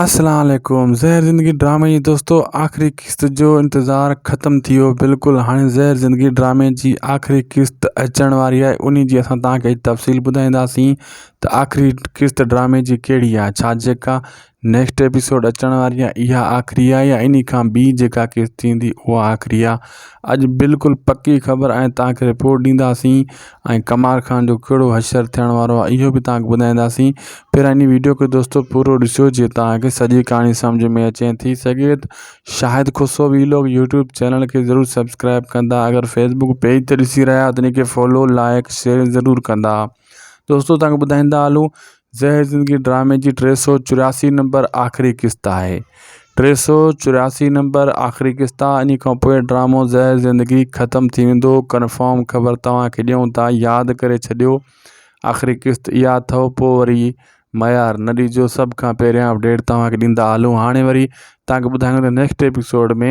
اسلام عليڪم زهر زندگي ڊرامي جي دوستو آخري قسط جو انتظار ختم ٿي ويو بلڪل هاڻي زهر زندگي ڊرامي جي آخري قسط اچڻ واري آهي انهي جي اسان توهان کي تفصيل ٻڌائينداسين ته آخري قسط ڊرامي جي ڪهڙي آهي ڇا جيڪا نيڪسٽ ايپيسوڊ اچڻ واري آهي اها آخري آهي يا انهي کان ٻي جيڪا قسط ٿيندي اها آخري آهي اڄ بلڪل پڪي خبر ۽ توهان کي رپورٽ ڏينداسين ۽ قمار خان جو ڪهڙو حشر ٿيڻ وارو آهي اهو به توهان کي ٻڌائينداسين پر هن ويڊيو کي دوستو پورو ڏسو جيئن توهان کي سڄي ڪهاڻي سمجهه ۾ اچي ۽ ٿي سگهي ته Shahid Khusro vlog YouTube channel کي ضرور سبسڪرائب ڪندا اگر فيسبوڪ پيج تي ڏسي رهيا آهيو ته ان کي فالو لائڪ شيئر ضرور ڪندا دوستو توهان کي ٻڌائيندا هلون زهر زندگي ڊرامي جي ٽي سؤ چورياسي نمبر آخري قسط آهي ٽي سؤ چورياسي نمبر آخري قسط آهي ان کان پوء ڊرامو زهر زندگي ختم ٿي ويندو ڪنفرم خبر توهانکي ڏيون ٿا ياد ڪري ڇڏيو آخري قسط اها اٿو پوء وري معيار نه ڏجو سڀ کان پهريان اپڊيٽ توهانکي ڏيندا هلون هاڻي وري توهانکي ٻڌايون ته نيڪسٽ ايپيسوڊ ۾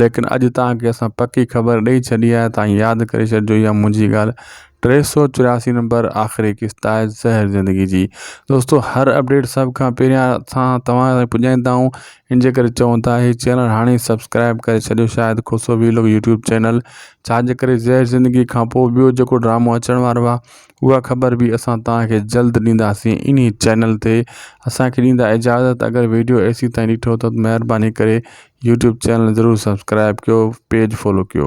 ليڪن اڄ توهان کي اسان پڪي خبر ڏئي ڇڏي آهي توهان ياد ڪري ڇڏجو اها منهنجي ڳالهه ٽي سؤ چورياسي نمبر آخري قسط آهي زهر زندگي جي دوستو هر اپڊيٽ سڀ کان پهريان اسان توهان تائين پڄائيندا آهيون ان جي ڪري چون ٿا هي چينل هاڻي سبسڪرائب ڪري ڇڏيو Shahid Khoso vlog YouTube channel ڇا جي ڪري زهر زندگي کان پوء ٻيو جيڪو ڊرامو اچڻ وارو آهي اها خبر به اسان توهان کي جلد ڏينداسين انهي چينل تي اسان کي ڏيندا اجازت اگر ويڊيو ايسي تائين ڏٺو ته مهرباني ڪري يوٽيوب چينل ضرور سبسڪرائب ڪيو پيج فالو ڪيو.